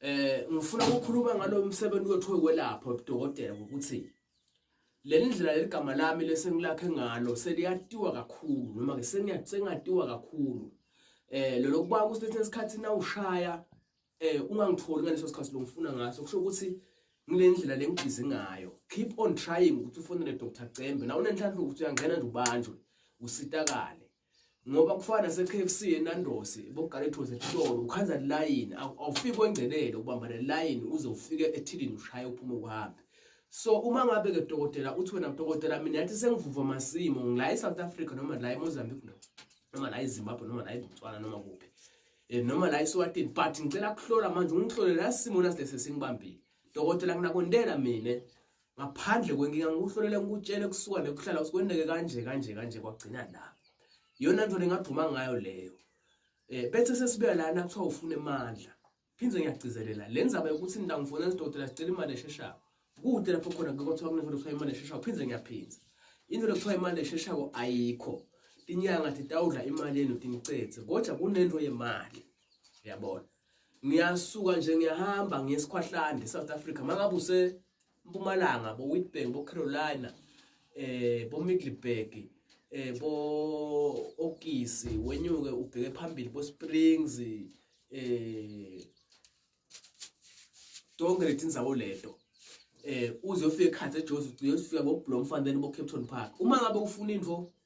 eh ngifuna ukukhuluma ngalo msebenzi wethu wokwelapha udokotela ukuthi leli ndlela leligama lami lesengilakhe ngalo seliyatiwa kakhulu noma ke sengiyatiwa kakhulu eh lelo kuba kusethe isikhathi na ushaya eh ungangitholi ngaleso sikhathi lo ngifuna ngaso kusho ukuthi ngilendlela lengibhizi ngayo keep on trying ukuthi ufonele Dr Cembe na unenhlanhla ukuthi uyangena nje ubanjwe usitakale ngoba kufana nase-KFC eNandos boGaletho's esitolo ukhanza line awufiki kwengelele ubamba le line uze ufike ethilini ushaye uphume uhambe so uma ngabe ke dokotela uthi wena dokotela mina yathi sengivuva masimo ngila eSouth Africa noma la eMozambique no noma la eZimbabwe noma la eBotswana noma kuphi eh, noma la eSwatini but ngicela kuhlola manje ungihlole la simo nasilese singibambile dokotela nginakwendela mina ngaphandle kwenkinga ngikuhlolele ngikutshele kusuka nekuhlala usikwendeke kanje kanje kanje kwagcina la yona nto ningagquma ngayo leyo eh bethe sesibuya lana kuthiwa ufuna emandla phinde ngiyagcizelela le ndzaba yokuthi nina ngifuna izidokotela sicela imali esheshayo kude lapho khona kuthiwa kunento kuthiwa imali esheshayo phinde ngiyaphinza into lokuthiwa imali esheshayo ayikho tinyanga titawudla imali yenu tinicetse kodwa kunento yemali uyabona ngiyasuka nje ngiyahamba ngiyesikhwahlande South Africa mangabe use Mpumalanga bo Witbank bo Carolina eh bo Middleburg eh bo Okisi wenyuke ubheke phambili bo Springs eh tonke leti ndzawo leto eh uze ufike ekhathi ejozi ugcine usifika ngoblomfan then bo-capton park uma ngabe ufuna into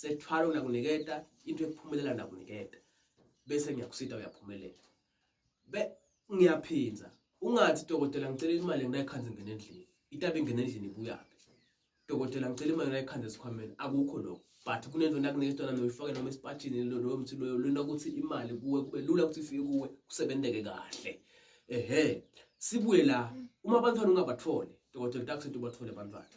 sethwala unakuniketa into ekuphumelela nakuniketa bese ngiyakusita uyaphumelela be ngiyaphinza ungathi dokotela ngicela imali nginayikhanda ngene endlini itabe ngene endlini ibuyaphi dokotela ngicela imali nginayikhanda esikhwameni akukho lokho but kunento nakuniketa yona noyifake noma esipatshini lowo mthi loyo lona ukuthi imali kuwe kube lula ukuthi ifike kuwe kusebenzeke kahle ehe sibuye la uma abantwana ungabatholi dokotela utakuthi ubathole abantwana